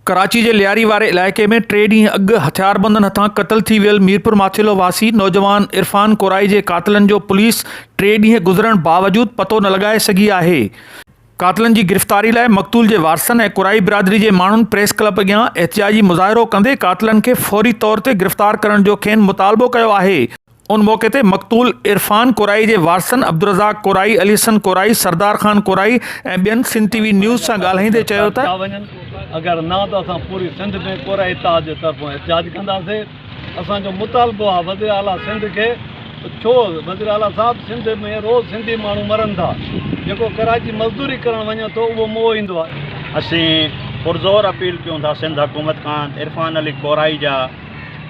ڪراچي جي لياري واري علائقي ۾ ٽي ڏينهن اڳ هٿياربندن هٿان قتل ٿي ويل ميرپور ماٿيلو واسي نوجوان عرفان ڪورائي جي قاتلن جو پوليس ٽي ڏينهن گذرڻ باوجود پتو نه لڳائي سگهي آهي. قاتلن جي گرفتاري لاء مقتول جي وارثن ۽ ڪورائي برادري جي ماڻهن پريس ڪلب اڳيان احتجاجي مظاهرو ڪندي قاتلن کي فوري طور تي گرفتار ڪرڻ جو کين مطالبو ڪيو آهي. ان موقعي تي مقتول عرفان ڪورائي جي وارثن عبدالرزاق ڪورائي، علي حسن ڪورائي، سردار خان ڪورائي ۽ ٻين سنڌ ٽي وي نيوز سان ڳالهائيندي چيو ته، ڪيا وڃن اگر نه ته اسان پوري سنڌ ۾ ڪورائي اتحاد جي طرفان احتجاج ڪنداسي اسان جو مطالبو آ وزير اعليٰ سنڌ کي ته ڇو وزير اعليٰ صاحب سنڌ ۾ روز سنڌي ماڻهو مرن ٿا جيڪو ڪراچي مزدوري ڪرڻ وڃي ٿو اهو موئو ايندو آ. اسين پرزور اپيل ڪيون ٿا سنڌ حڪومت کان ته عرفان علي ڪورائي جا.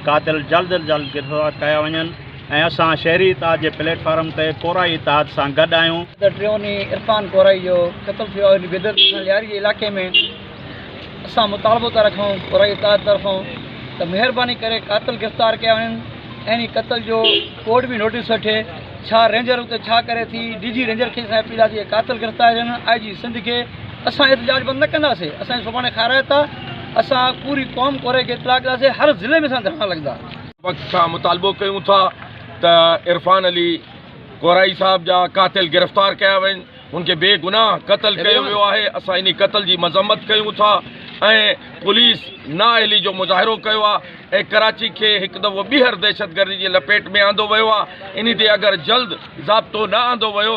قاتل جلد از جلد گرفتار ڪيا وڃن ۽ اسان شهري اتحاد جي پليٽ فارم تي ڪورائي اتحاد سان گڏ آهيون. ٻڌر ٽيون ڏينهن عرفان ڪورائي جو قتل ٿيو آهي ان بي دردي سان لياري جي علائقي ۾ اسان مطالبو ٿا رکون ڪورائي اتحاد طرفون ته مهرباني ڪري قاتل گرفتار ڪيا وڃن ۽ قتل جو ڪورٽ به نوٽيس وٺي ڇا رينجر اتي ڇا ڪري ٿي ڊي جي رينجر کي اسان جي اپيل آهي ته اهي قاتل گرفتار ڪيا وڃن آء جي سنڌ کي اسان احتجاج بند نه ڪنداسين اسان جي سڀاڻي کارائت آ اسان پوري قوم ڪوري کي اطلاع ڪنداسين هر ضلعي ۾ اسان ڌرڻا لڳندا. وقت کان مطالبو ڪيون ٿا ته عرفان علي ڪورائي صاحب جا قاتل گرفتار ڪيا وڃن هن کي بي گناھ قتل ڪيو ويو آهي اسان انهي قتل جي مذمت ڪيون ٿا ۽ پوليس نااهلي جو مظاهرو ڪيو آ ۽ ڪراچي کي هڪ دفعو ٻيهر دهشتگردي جي لپيٽ ۾ آندو ويو آ انهي تي اگر جلد ضابطو نه آندو ويو